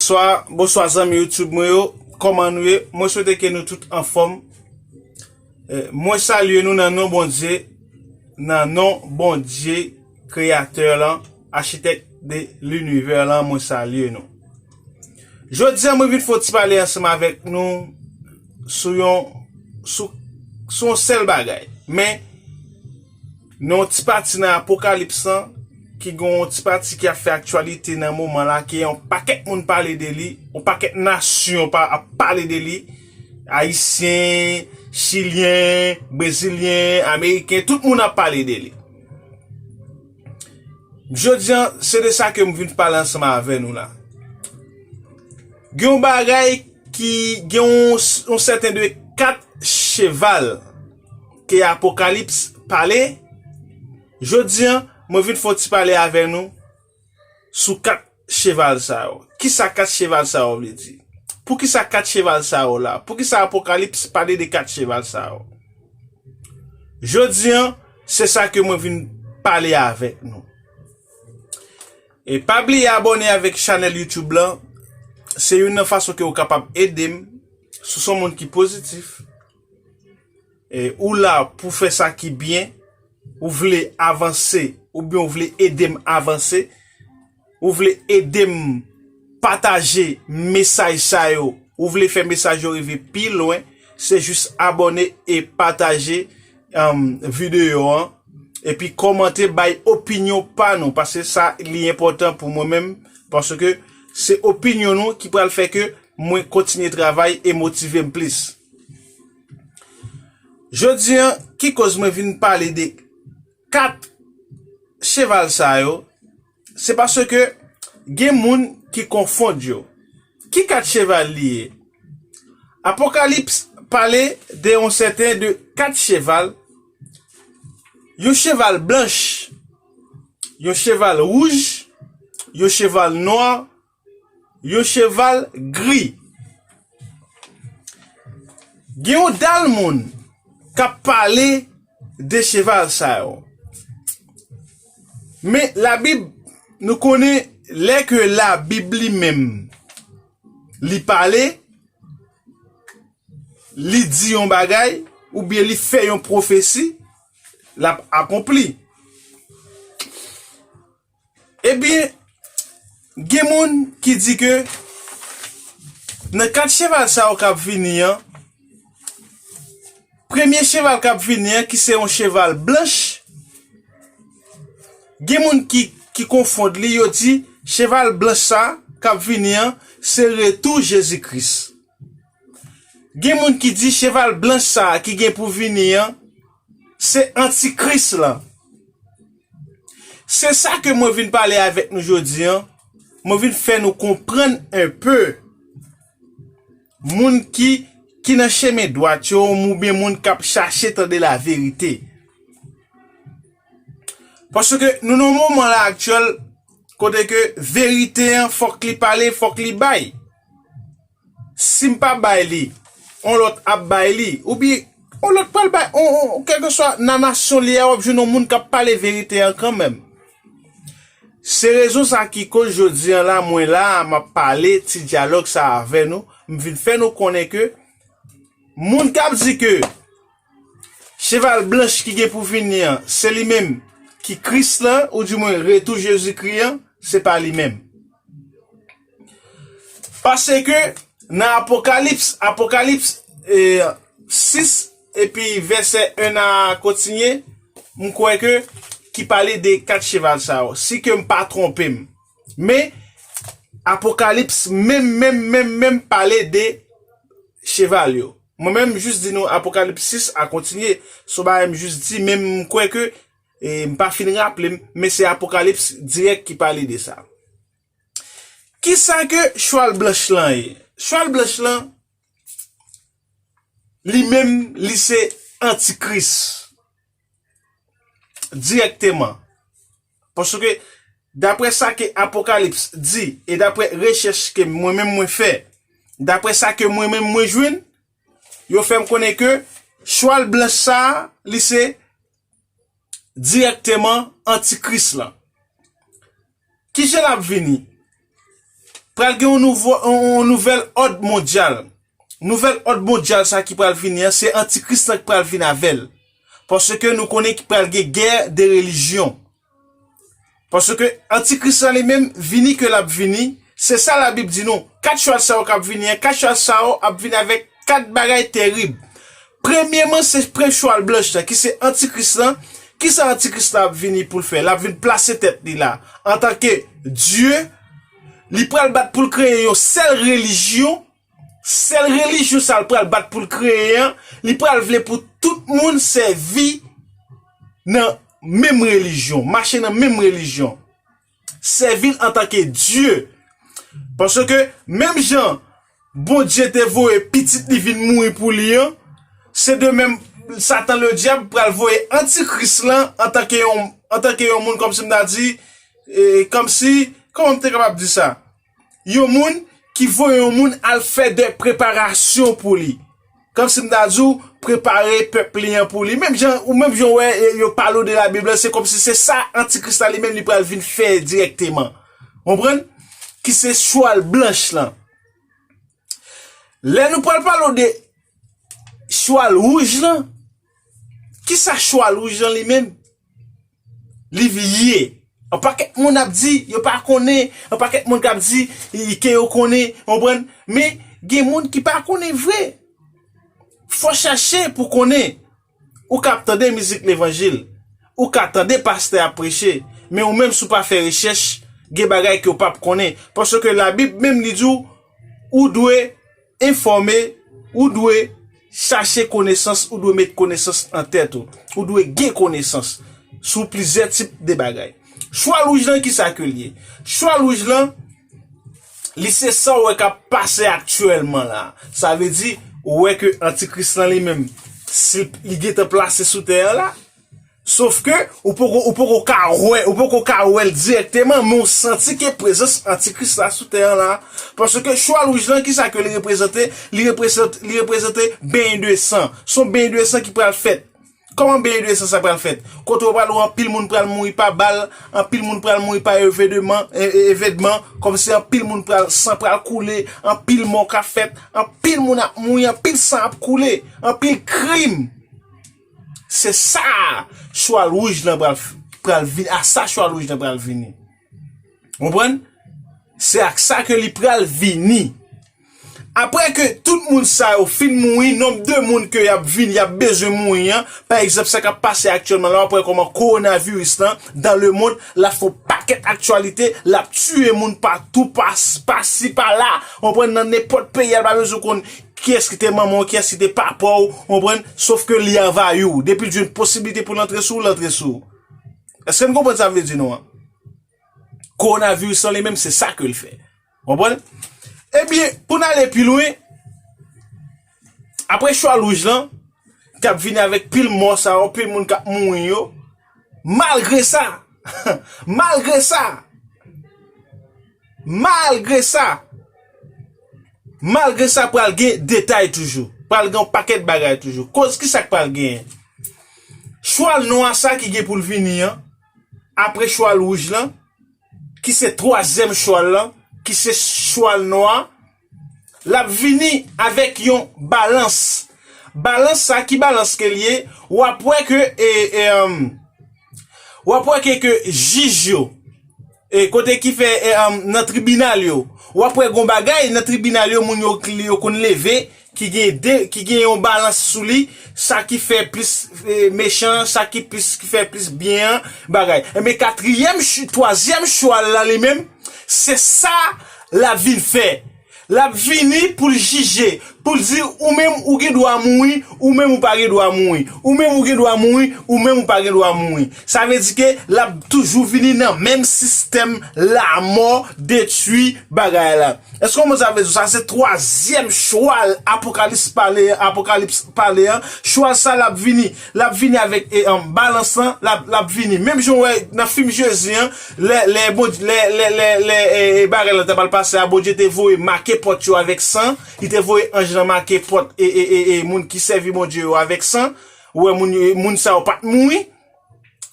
Swa, bonswa zanmi youtube mwen yo, kòman nou ye, mwen swete ke nou tout anfòm, mwen salye nou nan non Bondye, nan non Bondye kreyatè lan, achitèk de linivè lan mwen salye nou. Jodi an mwen vin fon ti pale ansanm avèk nou sou yon sou sou yon sèl bagay men Nan yon ti pati nan Apokalips lan, ki gen yon ti pati ki ap fè aktyalite nan moman la, ke yon pakèt moun pale de li, yon pakèt nasyon pa ap pale de li, Ayisyen, Chilyen, Brezilyen, Ameriken, tout moun ap pale de li. Jodi an, se de sa ke m vin pale ansanm avè nou la. Gen yon bagay ki gen yon sèten de kat cheval. ke Apokalips pale, jodi an, mwen vin fè yon ti pale avè nou sou kat cheval sa yo. Ki sa kat cheval sa yo vle di? Pou ki sa kat cheval sa yo la? Pou ki sa Apokalips pale de kat cheval sa yo? Jodi an, se sa ke mwen vin pale avèk nou. E pa bliye abòne avèk chanèl YouTube lan, se youn nan fason ke ou kapab ede m, si w se yon moun ki pozitif, E ou la pou fè sa ki byen, ou vle avanse, ou byen ou vle edem avanse, ou vle edem pataje mesaj sa yo, ou vle fè mesaj yo rive pi lwen, se jis abone e pataje videyo an, e pi komante bay opinyon pa nou, pase sa li enpotan pou mwen menm, pase ke se opinyon nou ki pral fè ke mwen kontinye travay e motive m plis. Jodi an, ki koz mwen vin pale de 4 cheval sa yo, se paske gen moun ki konfond yo. Ki 4 cheval li ye? Apokalips pale de yon sèten de 4 cheval, yon cheval blanch, yon cheval wouj, yon cheval nwa, Yon cheval gri. Gen yon dal moun k ap pale de cheval sa yo. Men labib nou konnen lè ke labib li menm li pale, li di yon bagay oubyen li fè yon pwofesi, l ap akonpli. Ebyen, gen moun ki di ke nan 4 cheval sa yo k ap vini an, premye cheval k ap vini an ki se yon cheval blanch, gen moun ki konfond li, yo di cheval blanch sa a k ap vini an, se retou Jezi Kris. Gen moun ki di cheval blanch sa a ki gen pou vini an, Se antikris lan. Se sa ke mwen vin pale avèk nou jodi an, mwen vin fè nou konprann enpe moun ki ki nan chemen dwat yo oubyen moun kap chache tande laverite. Paske nou nan moman la aktyèl kote ke verite an fòk li pale, fòk li bay. Sim pa bay li on lot ap bay li ou byen on lot pral bay on on kelkeswa nan nasyon li a wap jwenn on moun kap pale verite an kanmenm. Se rezon sa ki koz jodi an la mwen la a map pale ti dyalog sa avè nou m vin fè nou konnen ke moun kap di ke Cheval blanch ki gen pou vini an, se li menm ki Kris la, oudimwen retou Jezikri an, se pa li menm. Paske, nan Apokalips, Apokalips, e, 6, epi vèsè 1 a kontinye, m kwè ke, ki pale de kat cheval sa yo, si ke m pa twonpe m. Men, Apokalips menm, menm, menm, menm pale de cheval yo. Mwen menm m jis di nou Apocalypse 6 a kontinye, son bagay m jis di men m kwè ke m pa fin raple m, men se Apocalypse dirèk ki pale de sa. Kisa ke chwal blanch lan ye? Chwal blanch lan li menm li se antikris dirèkteman. Paske, daprè sa ke Apokalips di, e daprè rechèch ke mwen menm mwen fè, daprè sa ke mwen menm mwen jwenn, yo fè m konnen ke chwal blanch sa a, li se dirèkteman antikris lan. Kijan l ap vini? pral gen yon nouvèl òd mondyal. Nouvèl òd mondyal sa ki pral vini an, se antikris lan ki pral vini avèl. Paske nou konnen ki pral gen gè de relijyon. Paske antikris lan li menm vini ke lap vini, se sa la bib di nou, 4 chwal sa yo kap vini an, 4 chwal sa yo ap vini avèk 4 bagay terib. Premyeman se prens chwal blanch la ki se antikris la, kisa antikris la ap vini poul fè, lap vin plase tèt li la antanke Dye, li pral bat poul kreye yon sèl relijyon, sèl relijyon sal pral bat poul kreye an, li pral vle pou tout moun sèvi nan menm relijyon, mache nan menm relijyon. sèvi l antanke Dye. Paske, menm jan Bondye te voye Pitit li vin mouri pou li an, se de menm Satan Ledyab pral voye Antikris la antanke yon moun, kòmsi m ta di, kòmsi, kòman m te kapab di sa? yon moun ki voye yon moun al fè de preparasyon pou li. Kòm si m ta di ou, prepare pèp li an pou li. Menm jan, ou menm jan wè, yo pale ou de la Bib la, se kòm si se sa antikris la li menm li pral vin fè dirèkteman. Konprann? Ki se chwal blanch lan. Lè nou pral pale ou de chwal wouj lan, Kisa chwa Louis Jean li menm li vlie? Yon pakèt moun ap di yo pa konnen, yon pakèt moun kap di ke yo konnen, ou konprann? Men, gen moun ki pa konnen vre. Fò chache pou konnen. Ou kap tande mizik levanjil, ou ka tande pastè ap preche, men ou menm si w pa fè rechèch, gen bagay ke w pap konnen. Paske labib menm li di w, ou dwe. Enfòme, Ou dwe chache konesans, ou dwe met konesans nan tèt ou. Ou dwe gen konesans sou plizyè tip de bagay. Chwa lwouj lan ki sa ke l ye? Chwa lwouj lan, li se sa w wè k ap pase aktyèlman la. Sa vle di, ou wè ke antikris lan li menm, si li gentan plase sou tè an la, Sof ke ou poko ou poko ka wè, ou poko ka wè l dirèkteman men w santi ke prezans antikris la sou tè an la. Paske chwal wouj lan kisa ke li reprezante? Li reprezante li reprezante benyen de san. S on benyen de san ki pral fèt. Kòman benyen de san sa pral fèt? Kote ou pral wè anpil moun pral mouri pa bal, anpil moun pral mouri pa evedeman, evèdman, kòmsi anpil moun pral san pral koule, anpil mò ka fèt, anpil moun ap mouri, anpil san ap koule, anpil krim. Se sa chwal wouj lan pral vini, a sa chwal wouj lan pral vini. Konprann? Se ak sa ke li pral vini. Apre ke tout moun sa yo fin mouri, nonb de moun ke yap vini, yap bezwen mouri an, pa egzanp sa kap pase aktyèlman la, wap wè kòman koronaviris lan, dan le mond, lap fon pakèt aktyalite, lap tiye moun pa tou, pa si, pa la, konprann, nan nenpòt peyi, al pa bezwen konn. Kiyès ki te manman w, kiyès ki te papa w, ou konprann, sof ke li anvayi w. Depi l jwenn posibilite pou l antre sou w, l antre sou w. Eske n konprann sa m vle di nou an? Kowonaviris lan li menm se sa ke l fè. Ou konprann? Ebyen, pou n ale pi lwen, apre chwa louj lan, k ap vini avèk pil mò sa yo, pil moun k ap mouri yo, Malgre sa, malgre sa, malgre sa, malgre sa pral gen detay toujou, pral gen yon pakèt bagay toujou. Koz ki sa k pral genyen? Chwal nwa sa ki gen pou l vini an, apre chwal wouj lan, ki se twazyèm chwal lan, ki se chwal nwa, L ap vini avèk yon balans. Balans sa ki balans ke l ye? W ap wè ke e, e, w ap wè ke ke jij yo e kote ki fè e nan tribinal yo, w ap wè gon bagay nan tribinal yo moun yo li yo konn leve ki gen de, ki gen yon balans sou li, sa ki fè plis e mechan an, sa ki plis ki fè plis byen an bagay. Enben katriyèm, twazyèm chwa l la li menm se sa. L ap vin fè. L ap vini pou l jije, pou l di, Ou menm ou gen dwa mouri, ou menm ou pa gen dwa mouri. Ou menm ou gen dwa mouri, ou menm ou pa gen dwa mouri. Sa vle di ke l ap toujou vini nan menm sistèm lamò, detwi, bagay la. Èske w konprann sa m vle di w? Sa se twazyèm chwal Apokalips pale an, Apokalips pale an. Chwal sa l ap vini. Lap vini avèk balans lan lap vini menm jan ou wè nan fim jezi an lè bagay lan ta pral pase a bondye te voye make pòt yo avèk san li te voye anj lan make pòt moun ki sèvi bondye yo avèk san ou wè moun sa yo pat mouri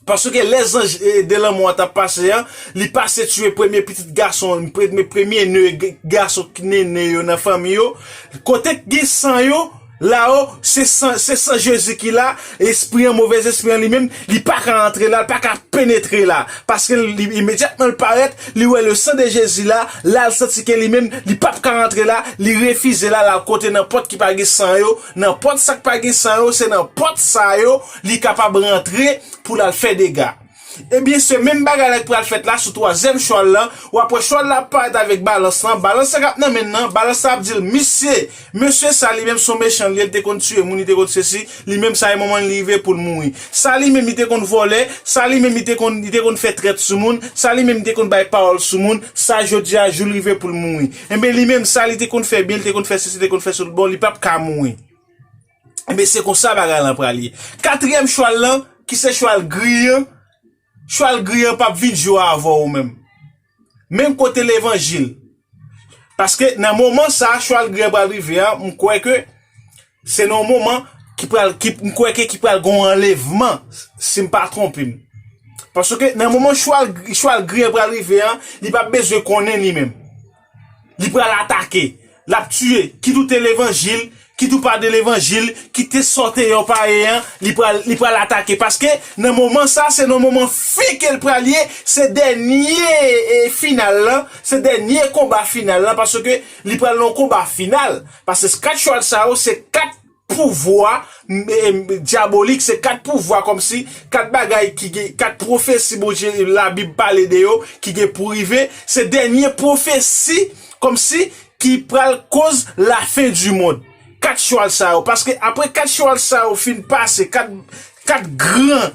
paske lè zanj de lanmò an tap pase an li pase tiye premye pitit gason premye ne gason ki ne yo nan fanmi yo kote ki gen san yo La o, se san, se san Jezi ki la, espri an, move zespri an li menm, li pa ka antre la, li pa ka penetre la. Paske l, li, imedyatman l parèt, li wè le san de Jezi la, la l santi ke li menm, li p ap ka rantre la, li refize la, l al kote nan pòt ki pa gen san yo, nan pòt sa k pa gen san yo, se nan pòt sa yo li kapab rantre pou l al fè dega. Ebyen se menm bagay la ki pral fèt la sou twazyèm chwal la, wap wè chwal la ap parèt avèk balans lan, balans la kap nan menn nan, balans la ap dil misye, mesye sa li menm son mechan li ye li te konn tiye moun li te konn sesi, li menm sa e moman li rive poul mouri, sa li menm li te konn vòlè, sa li menm li te konn li te konn fè trèt sou moun, sa li menm li te konn bay pawòl sou moun, sa jodia joul rive poul mouri, enben li menm sa li te konn fè byen li te konn fè sesi li te konn fè sou l bon li pap ka mouri. Enben se konsa bagay lan pral ye. Katriyèm chwal lan ki se chwal gri an, chwal gri an pap vin jwe avè w menm. Menm kote levanjil. Paske nan moman sa chwal gri an pral rive an, m kwè ke se nan yon moman ki pral, m kwè ke ki pral gon anlevman si m pa twonpe m. Paske nan moman chwal gri an pral rive an, li pap bezwen konnen li menm. Li pral atake, l ap tiye, kit ou te levanjil, kit ou pa de levanjil, kit te sa w te ye w pa ye an, li pral li pral atake paske nan moman sa se nan moman fen ke l pral ye, se dènye e final lan, se dènye konba final lan paske li pral nan yon konba final paske 4 chwal sa yo se 4 pouvwa dyabolik se kat pouvwa kòmsi kat bagay ki gen kat pwofesi Bondye labib pale de yo ki gen pou rive se dènye pwofesi kòmsi ki pral koz lafen di mond kat chwal sa yo paske apre kat chwal sa yo fin pase kat kat gran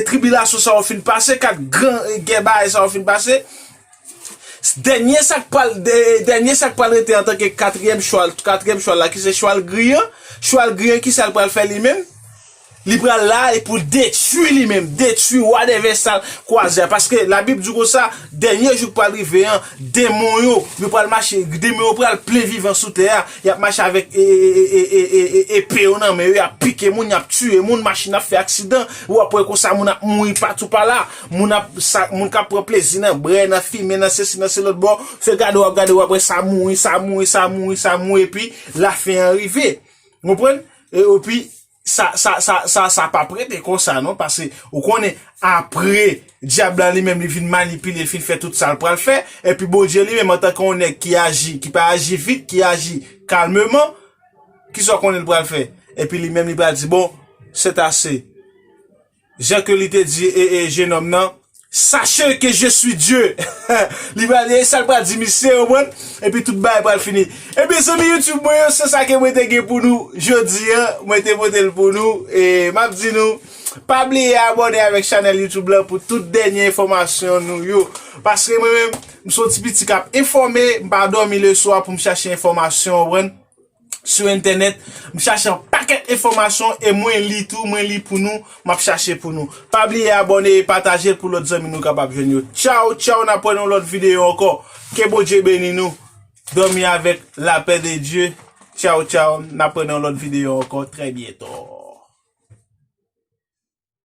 tribilasyon sa yo fin pase kat gran gè bagay sa yo fin pase. Dènye sa k pral dènye sa k pral rete antanke katriyèm chwa katriyèm chwal la ki se chwal gri an, chwal gri an ki sa l pral fè li menm? Li pral la e pou l detwi li menm, detwi wa dè vèsal kwazè a paske labib di konsa dènye jou k pral rive an denmon yo yo pral mache denmon yo pral plen vivan sou tè a y ap mache avèk e e e e epe yo nan men yo y ap pike moun y ap tiye moun machin ap fè aksidan ou ap wè konsa moun ap mouri patou pala. Moun ap sa moun kap pran plezi nan brè nan fimen nan sesi nan selòt bò fè gade wap gade wap wè sa mouri sa mouri sa mouri sa mouri epi lafen an rive ou konprann epi sa sa sa sa sa pap rete konsa non pase ou konnen apre dyab la li menm li vin manipile li fin fè tout sal pral fè epi Bondye li menm antanke yon nèg ki aji ki pa aji vit ki aji kalmeman kisa w konnen li pral fè epi li menm li pral di bon sètase. Jan ke li te di jenòm nan, Sache ke je swi Dye! Li pral di, e sa l pral di misye, ou konprann? Epi tout bagay pral fini. Ebyen zanmi YouTube mwen yo, se sa ke mwen te gen pou nou jodi an. Mwen te pote l pou nou. E m ap di nou, pa bliye abòne avèk chanèl YouTube lan pou tout dènye enfòmasyon nou yo. Paske mwen menm, m son ti piti k ap enfòme, m pa dòmi leswa pou m chache enfòmasyon, ou konprann? sou entènèt, m chache yon pakèt enfòmasyon e mwen li tou, mwen li pou nou, m ap chache pou nou. Pa bliye abòne e pataje l pou lòt zanmi nou kapab jwenn yo. Tchaw tchaw n ap wè nan yon lòt videyo ankò. Ke Bondye beni nou. Dòmi avèk lapè de Dye. Tchaw tchaw n ap wè nan yon lòt videyo ankò trè byento.